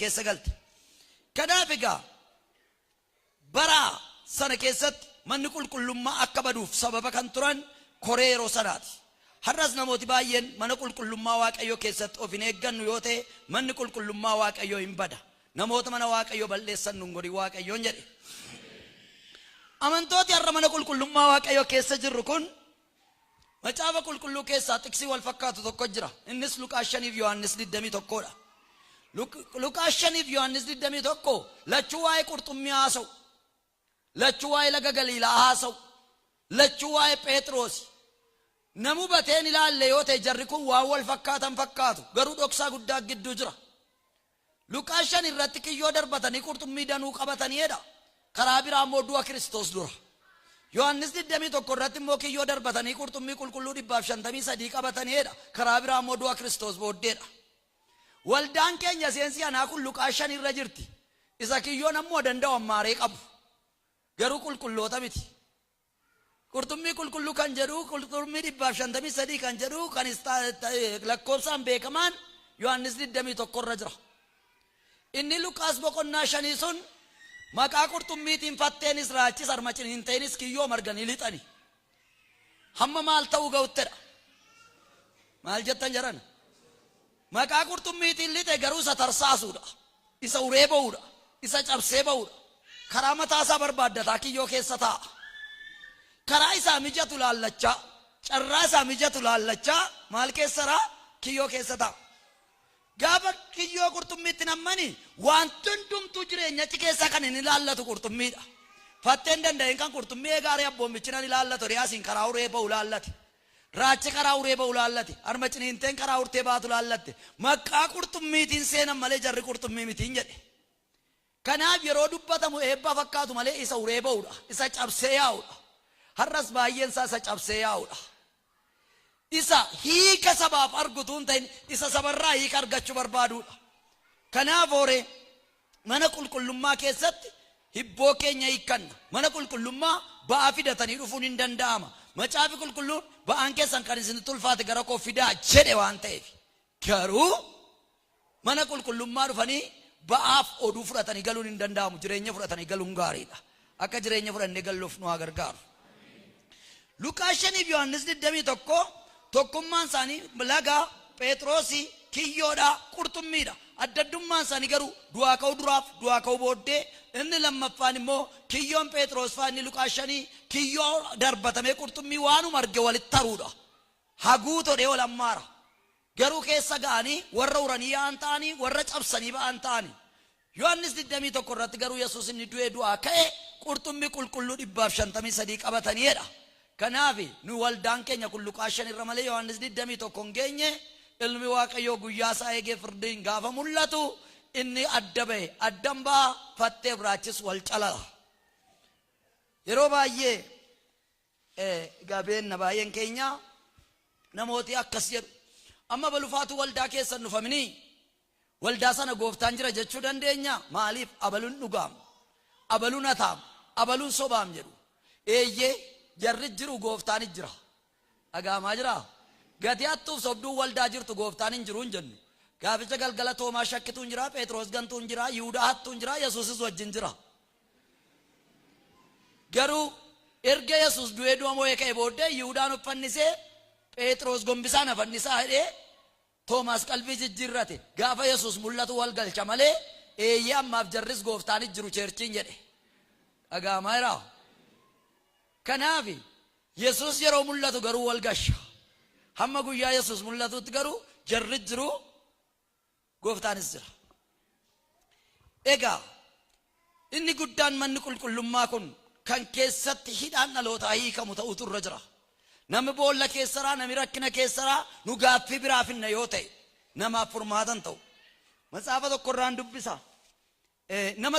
keessa galte. Kanaaf egaa bara sana keessatti manni qulqullummaa akka baduuf sababa kan turan koree yeroo sanaati. Har'as namooti baay'een mana qulqullummaa Waaqayyoo keessatti of hin eeggannu yoo ta'e manni qulqullummaa Waaqayyoo hin bada. Namoota mana Waaqayyoo bal'eessan nun godhin Waaqayyoon jedhe. Amantooti har'a mana qulqullummaa Waaqayyoo keessa jirru kun Macaafa Qulqulluu keessaa xiqsii wal fakkaatu tokko jira. Innis Luqaas 5 fi Yohaannis 21 dha. Luqaas 5 fi Yohaannis 21 lachuu waa'ee qurxummii haasa'u. Lachuu waa'ee laga Galiilaa haasa'u. Lachuu waa'ee Pheexiroosi. Nam hubateen ilaalle yoo ta'e jarri kun waan wal fakkaatan fakkaatu garuu dhoksaa guddaa gidduu jira. Luqaas 5 irratti kiyyoo darbatanii qurxummii danuu qabatanii jedha. Karaa biraa immoo du'a Kiristoos dura. Yohannis 21 irratti immoo kiyyoo darbatanii qurxummii qulqulluu 153 qabatanii jedha. Karaa biraa immoo du'a Kiristoos booddeedha. Waldaan keenya seensi anaa kun Luqaas 5 irra jirti. Isa kiyyoon ammoo danda'u ammaaree qabu. Garuu qulqulloota miti. Qurxummii qulqulluu kan jedhuu qurxummii 153 kan jedhuu kan lakkoobsaan beekamaan Yohaannis 21 irra jira. Inni Luqaas boqonnaa shanii sun maqaa qurxummiitiin fatteenis raachis armacin hin ta'eenis kiyyoo marganii lixani. Hamma maal ta'uu ga'uttedha. Maal jettan jedhan? Maqaa qurxummiitiin lixe garuu isa tarsaasu dha, isa uree ba'u dha, isa cabsee ba'u dha. Karaa mataa isaa barbaaddataa kiyyoo keessa taa'a. Karaa isaa mijatu ilaallachaa, carraa isaa mijatu ilaallachaa maal keessa ra? Kiyyoo keessa taa'a. Gaafa kiyyoo qurxummiitti nammani wanti hundumtuu jireenya achi keessaa kan hin ilaallatu qurxummii dha. Fatteen danda'een kan qurxummii eegaaree abboommichi nan ilaallatu riyaasiin karaa uree ba'u ilaallate. Raachi karaa uree ba'u laallate. Harma ciniinteen karaa urtee baatu laallatte. Maqqaa qurxummiitiin seenan malee jarri qurxummii miti hin jedhe. Kanaaf yeroo dubbatamu eebba fakkaatu malee isa uree ba'udha. Isa cabsee yaa'udha. Har'as baay'een isaa isa cabsee yaa'udha. Isa hiika sabaaf argu utuu hin ta'in isa sabarraa hiika argachuu barbaadudha. Kanaaf hooree. Mana qulqullummaa keessatti hibboo keenya hiikkanna. Mana qulqullummaa ba'aa fidatanii dhufuun hin danda'ama. Macaafi Qulqulluun, Ba'aan keessan kan isinitti ulfaate gara koo fidaa jedhe waan ta'eef. Garuu mana qulqullummaa dhufanii ba'aaf oduu fudhatanii galuun hin danda'amu. Jireenya fudhatanii galuun gaariidha. Akka jireenya fudhannee galluuf nu haa gargaaru. Luqaas 5 fi Yohaannis 21 tokkummaan isaanii laga, Pheexroosi, kiyyoodha, qurxummiidha. Adda addummaan isaanii garuu du'aa ka'uu duraaf du'aa ka'uu booddee inni lammaffaan immoo kiyyoon Pheexroos fa'aa inni Luqaas 5 kiyyoo darbatamee qurxummii waanuma arge walitti haruudha. Haguu todhee ol ammaara. Garuu keessa ga'anii warra uranii yaa'an ta'anii warra cabsanii ba'an ta'anii. Yohannis 21 irratti garuu Yesuus inni du'ee du'aa ka'e qurxummi qulqulluu 153 qabatanii jedha. Kanaafi, nu waldaan keenya kun Luqaas 5 irra malee Yohannis 21 hin geenye, Ilmi Waaqayyoo guyyaa isaa eegee firdiin gaafa mul'atu inni adda ba'e, addan ba'a, fattee biraachis wal calala. Yeroo baay'ee eh, egaa beenna baay'een keenya namooti akkas jedhu. Amma balufaatuu waldaa keessan dhufaminii Waldaa sana Gooftaan jira jechuu dandeenyaa? Maaliif? Abalun dhugaam, abalun hataam, abalun sobaam jedhu. Eeyyee, jarris jiru, Gooftaanis jira. Dhaga'amaa jiraa? Gati hattuuf sobduun waldaa jirtu Gooftaan hin jiru hin jennu. Gaaficha galgala Toomaa shakkituun jira, Pheexiroos gantuun jira, Yihudaa hattuun jira, Yesuusis wajjin jira. Garuu erga Yesuus du'ee du'a moo'ee ka'e booddee Yihudaan of fannisee, Pheexiroos gombisaan na fannisaa jedhee Toomaas qalbii jijjiirrate. Gaafa Yesuus mul'atu wal galcha malee, Eeyyee ammaaf jarris Gooftaan hin jiru Cheerchiin jedhe. Dhaga'amaa jiraa? Kanaaf Yesuus yeroo mul'atu garuu wal gasha. Hamma guyyaa Yesuus mul'atuutti garuu jarris jiru Gooftaanis jira. Egaa Inni guddaan manni qulqullummaa kun kan keessatti hidhaan dhalootaa hiikamu ta'uutu irra jira. Namni boolla keessaraa, namni rakkina keessaraa nu gaaffii biraa finna yoo ta'e namaaf furmaata hin ta'u. Matsaafa tokkorraan dubbisa. Nama